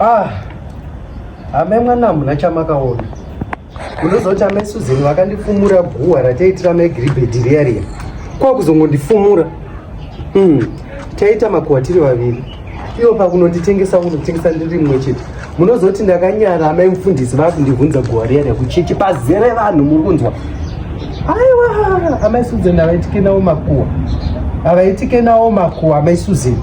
Ah, hame mwana hamuna chamakaona unozoti amai suzeni vakandifumura guhwa rataitira mai giribhedhi riya riya kwakuzongondifumura hmm. taita makuhwa tiri vaviri iwo pakunonditengesa kunotengesa ndiri mwe chete munozoti ndakanyara amai mufundisi vakundivhunza guhwa riya riya kuchechi pazere vanhu muri kunzwa aiwa amai suzeni havaitike nawo makuhwa havaitike nawo makuhwa amai suzeni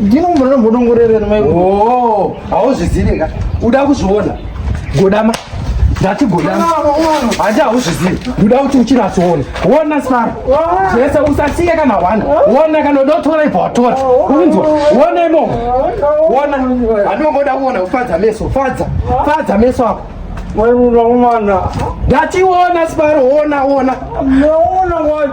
ndinombona mbodongorerera mai oh hauzvizive ka uda kuzviona godama ndati godama handi hauzvizive uda kuti uchinatsoona wona sara zvese usasiye kana hwana wona kana uda kutora ibva watora unzwa wona imomo wona handinongoda kuona kufadza meso fadza fadza meso ako Wewe unaona. Dati uona sibaro uona uona. Unaona